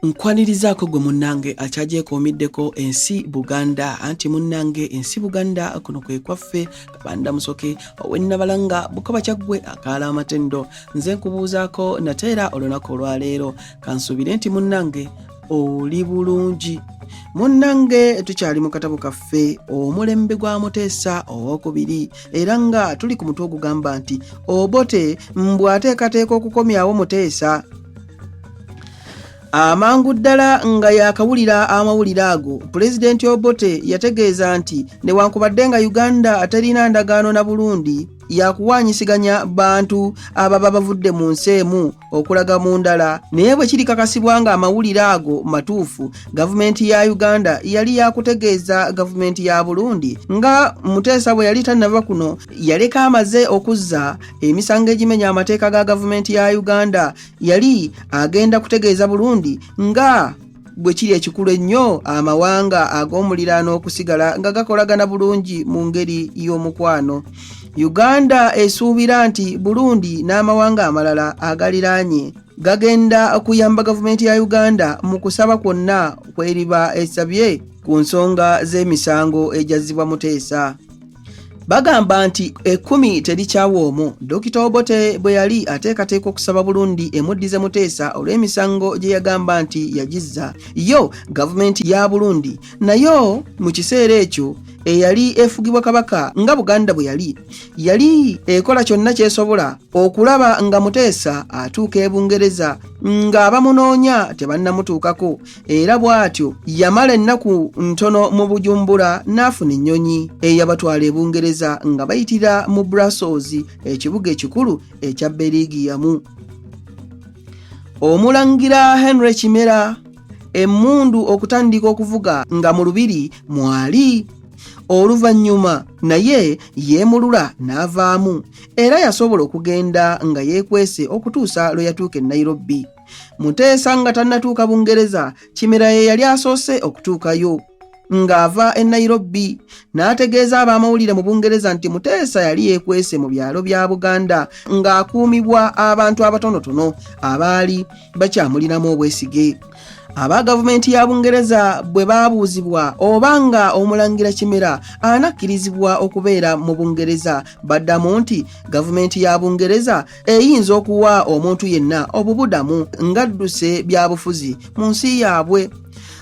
nkwanirizaako gwe munnange akyagyekomiddeko ensi buganda anti munnange ensi buganda kuno kwe kwaffe kabanda musoke owennabalanga bukoba kyaggwe akaala amatendo nze nkubuuzaako nate era olunaku olwaleero kansuubire nti munnange oli bulungi munnange tukyali mu katabo kaffe omulembe gwa muteesa owokubiri era nga tuli ku mutwe ogugamba nti obote mbu ateekateeka okukomyawo muteesa amangu ddala nga yakawulira amawulire ago pulezidenti obote yategeeza nti newankubadde nga uganda aterina ndagaano na burundi yakuwanyisiganya bantu ababa bavudde mu nsi emu okulaga mu ndala naye bwe kirikakasibwa ng'amawulire ago matuufu gavumenti ya uganda yali yakutegeeza gavumenti ya burundi nga muteesa bwe yali tannava kuno yaleka amaze okuzza emisango egimenya amateeka ga gavumenti ya uganda yali agenda kutegeeza burundi nga bwe kiri ekikulu ennyo amawanga ag'omuliraano okusigala nga gakolagana bulungi mu ngeri y'omukwano uganda esuubira nti burundi n'amawanga amalala agaliraanye gagenda okuyamba gavumenti ya uganda mu kusaba kwonna kweriba esabye ku nsonga z'emisango egyazzibwa muteesa bagamba nti ekkumi terikyawa omu dokita obote bwe yali ateekateeka okusaba bulundi emuddize muteesa olw'emisango gye yagamba nti yagizza yo gavumenti ya bulundi nayo mu kiseera ekyo eyali efugibwa kabaka nga buganda bwe yali yali ekola kyonna kyesobola okulaba nga muteesa atuuka e bungereza ng'abamunoonya tebannamutuukako era bw'atyo yamala ennaku ntono mu bujumbura n'afuna ennyonyi eyabatwala e bungereza nga bayitira mu brussels ekibuga ekikulu ekya berigiyamu omulangira henry kimera emmundu okutandika okuvuga nga mu lubiri mwali oluvannyuma naye yeemulula n'avaamu era yasobola okugenda nga yeekwese okutuusa lwe yatuuka e nairobi Muteesa nga tannatuuka Bungereza, Kimera ye yali asoose okutuukayo. Ng'ava e Nairobi n'ategeeza ab'amawulire mu Bungereza nti Muteesa yali yeekwese mu byalo bya Buganda ng'akuumibwa abantu abatonotono abaali bakyamulinamu obwesige. aba gavumenti ya bungereza bwe baabuuzibwa oba nga omulangira kimera anakkirizibwa okubeera mu bungereza baddamu nti gavumenti ya bungereza eyinza okuwa omuntu yenna obubudamu ng'adduse byabufuzi mu nsi yaabwe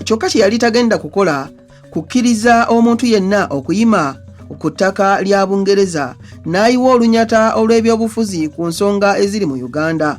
kyokka kye yali tagenda kukola kukkiriza omuntu yenna okuyima ku ttaka lya bungereza n'ayiwa olunyata olw'ebyobufuzi ku nsonga eziri mu uganda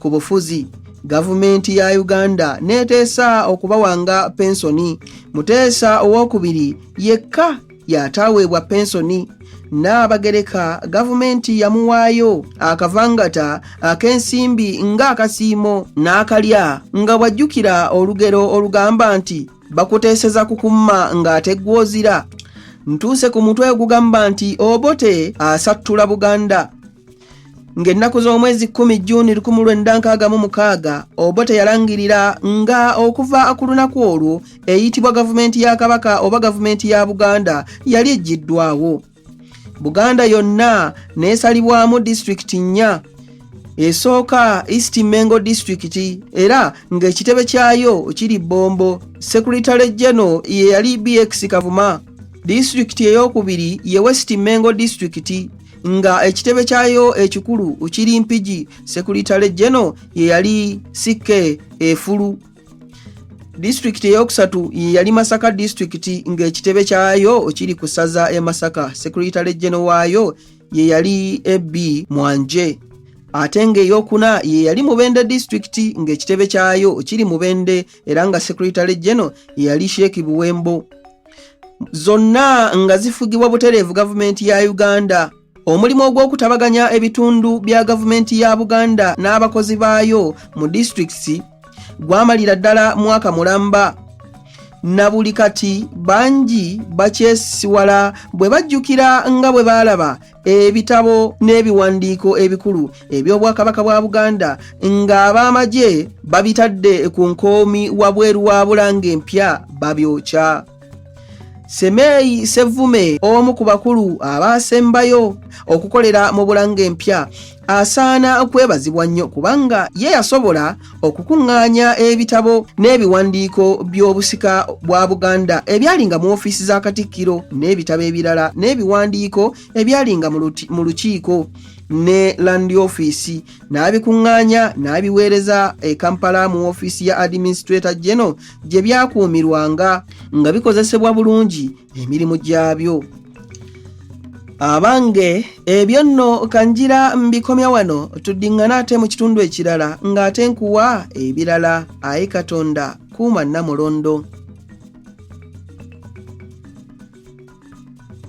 ku bufuzi gavumenti ya uganda neeteesa okubawanga pensoni muteesa owokubiri yekka yataaweebwa pensoni n'abagereka gavumenti yamuwaayo akavangata ak'ensimbi ng'akasiimo n'akalya nga bw'ajjukira olugero olugamba nti bakuteeseza kukumma ng'ate gw'ozira ntuuse ku mutwe ogugamba nti obote asattula buganda ng'ennaku z'omwezi kkumi juuni lukumi lwenda nkaaga mu mukaaga obote yalangirira nga okuva ku lunaku olwo eyitibwa gavumenti ya kabaka oba gavumenti ya buganda yali ejjiddwawo buganda yonna neesalibwamu disitulikiti nnya esooka east mengo disitulikiti era ng'ekitebe kyayo kiri bombo sekuritale geno ye yali bx kavuma disitulikiti ey'okubiri ye west mengo disitulikiti nga ekitebe kyayo ekikulu kiri mpigi sekuritale geno yeyali ck efulu disitulikiti eyokusatu yeyali masaka disitulikiti ngaekitebe kyayo kiri ku saza e masaka sekuritale geno waayo yeyali ab mwanje ate ngaeyokuna yeyali mubende disitulikiti ngaekitebe kyayo kiri mubende era nga sekuritale geno yeyali sheeki buwembo zonna nga zifugibwa butereevu gavumenti ya uganda omulimu ogw'okutabaganya ebitundu bya gavumenti ya buganda n'abakozi baayo mu disitulikiti gwamalira ddala mwaka mulamba na buli kati bangi bakyesisiwala bwe bajjukira nga bwe baalaba ebitabo n'ebiwandiiko ebikulu eby'obwakabaka bwa buganda ng'ab'amagye babitadde ku nkoomi wabweru wa bulanga empya babyokya semeeyi sevume omu ku bakulu abaasembayo okukolera mu bulanga empya asaana kwebazibwa nnyo kubanga ye yasobola okukuŋŋaanya ebitabo n'ebiwandiiko by'obusika bwa buganda ebyalinga mu ofiisi za katikkiro n'ebitabo ebirala n'ebiwandiiko ebyalinga mu lukiiko ne landi ofiisi n'abikuŋŋaanya n'abiweereza e kampala mu ofiisi ya administrator geno gye byakuumirwanga nga bikozesebwa bulungi emirimu gyabyo abange ebyo nno kanjira mbikomya wano tuddiŋŋana ate mu kitundu ekirala ng'ate nkuwa ebirala aye katonda kuuma nnamulondo